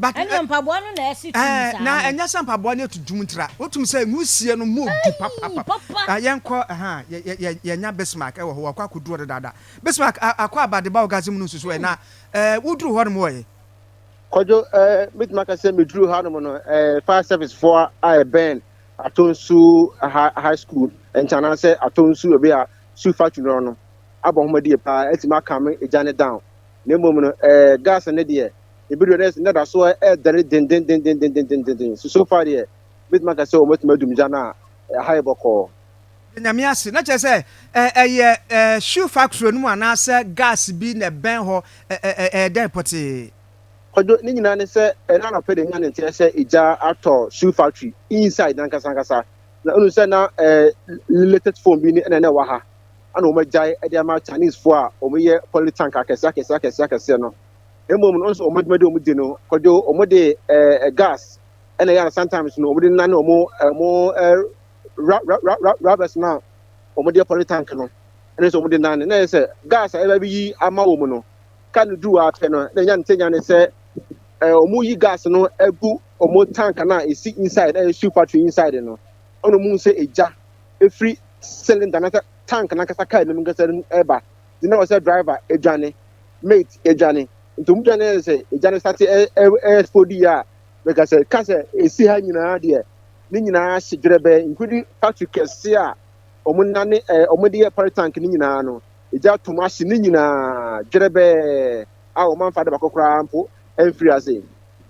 Ɛnneɛ mpaboa no na ɛsi tum saa no. Na ɛnyɛ sɛ mpaboa no yɛ tuntum ntira. Wotum sɛ nwusie no mu du papapapa. Yɛnkɔ ha a, yɛanya Bismarck wɔ hɔ. Wakɔ akɔduru hɔ dedaada. Bismarck, akɔ aba de ba orgasm no nsusuwɔ yɛ. Na woduru hɔnom ɔ ɛ? Kwadwo, Ɛɛ, mɛtumi aka sɛ meduruu hanom no, ɛɛ, fire service foɔ a ɛbɛn Atonsu High School nkyɛn anaasɛ Atonsu baabi a shoe factory no wɔ no abɔ nhomadie paa atumi akame egya no down. Na mmom no, ɛɛ, gas no deɛ, ebi deɛ na na da so ɛredɛre dendendendendendenden so so far deɛ mɛtumi aka sɛ wɔatumi adum gya no a ɛha yɛ bɔkɔɔ. Da nyame ase na kyerɛ sɛ ɛ ɛyɛ ɛ shoe factory no mu anaasɛ gas bi na ɛbɛn hɔ ɛ ɛ ɛ ɛyɛ dɛn pɔtee. Kwadwo, ne nyinaa ne sɛ ɛna anɔpɛ deɛ nya ne nteɛ sɛ egya atɔ shoe factory inside nankasa ankasa na ɔnu sɛ na ɛ latest phone bi ne na na ɛwɔ ha ɛna wɔn agyae ɛde ama Chinese foɔ a wɔn yɛ poly tank akɛseɛ akɛseɛ akɛseɛ akɛseɛ no. Mmom no, nso wɔn adwuma de wɔn di no, kwadwo wɔn de eh, gas, ɛna ɛyɛ na sometimes no wɔn de nane wɔn eh, wɔn eh, ra, ra, ra, ra, rubbers no a wɔn de pɔre tank no, ɛna nso wɔn de nane. Na ɛyɛ sɛ gas a ɛbɛ bi yi ama wɔn no, ka no duru afɛ no, na ɛnya ne sɛ nya ne sɛ eh, wɔn yi gas no agu wɔn tank no a esi inside, ɛyɛ shoe factory inside no, ɛna wɔn sɛ egya efiri cylinder na tank nankasa kaa anim nkasa ɛba. nti na ɔsɛ driver edwane mate edwane nti ɔmo dwane yɛ sɛ edwane sate ɛ ɛ ɛspodi yɛ a mɛka sɛ ka sɛ esi ha nyinaa deɛ ne nyinaa hye dwerɛbɛ nkudi factory kɛse a ɔmo nane ɛ ɔmo de yɛ pɔre tank ne nyinaa no egya tom ahye ne nyinaa dwerɛbɛ a ɔmo anfa de bakɔ koraa mpo ɛnfiri ase.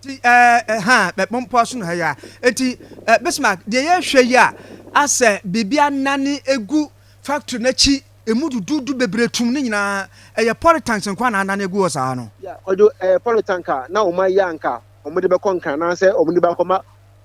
Ti ɛɛ ɛhaa bɛ bɔmpo aso na ha yɛ a eti ɛ Bismarck deɛ yɛhwɛ yi a asɛ biribi anane egu factory n'akyi. Emu duduudu bebree tumm ne nyinaa. Ɛyɛ polytanks nko ara na adane agu hɔ saa no. Ya, wɔde ɛɛ polytank a na wɔn ayi a anka wɔde bɛkɔ Nkran anaasɛ wɔde ba akɔma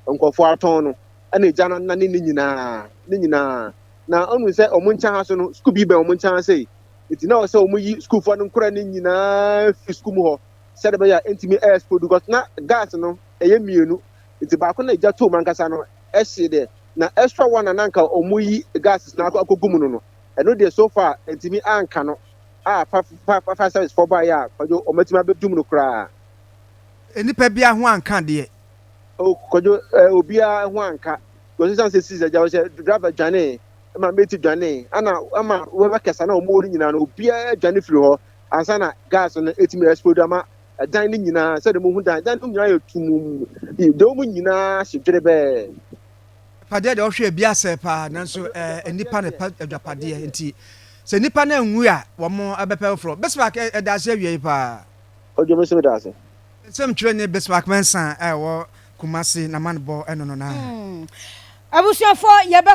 nkurɔfoɔ atɔn no na egya no anane ne nyinaa, ne nyinaa. Na ɔnhu sɛ wɔn nkyɛn ha so no, sukuu bi bɛn wɔn nkyɛn ha sei. Enti na ɛwɔ sɛ wɔyi sukuufoɔ no nkoraa no nyinaa firi sukuu mu hɔ sɛdeɛ ɛbɛyɛ a ɛntumi ɛɛspodu, cos na gas no ɛyɛ mmienu, enti baako na egya toom ankasa no ɛhye deɛ na ɛsɔ wɔn a na anka ɔmo yi gases no akɔ akɔgu mu no no ɛno deɛ so far ɛntumi anka no a fa fa fa fire service foɔ baeɛ a kwadwo ɔmo atumi abɛdum no koraa. Nnipa biaa ho anka deɛ. Oh kwadwo eh obiaa ho anka because ɛsiane sɛ sis agya ɔhyɛ driver dwanee ɛma mate dwanee ɛna ɛma wɛbɛkɛsa na ɔmo wɔ no nyinaa no obiaa dwane firi hɔ ansa na gas no ɛtumi explode ama dan no nyinaa sɛdeɛ mohu dan dan no nyinaa yɛ tumum dɛw mu nyinaa hye dwerebɛɛ. Agyapadeɛ deɛ ɔhwɛ ebi asɛe paa nanso ɛɛ nnipa na ɛpɛ agyapadeɛ nti sɛ nnipa no anwu a wɔn ɛbɛpɛ foforɔ Bismarck ɛda ase awie yi paa. Ɔdwo mi nso mi da ase. Nsɛm twerɛ ni Bismarck Mensah a ɛwɔ Kumasi na man bɔ ɛno no naa. Abusuafoɔ yɛbɛ.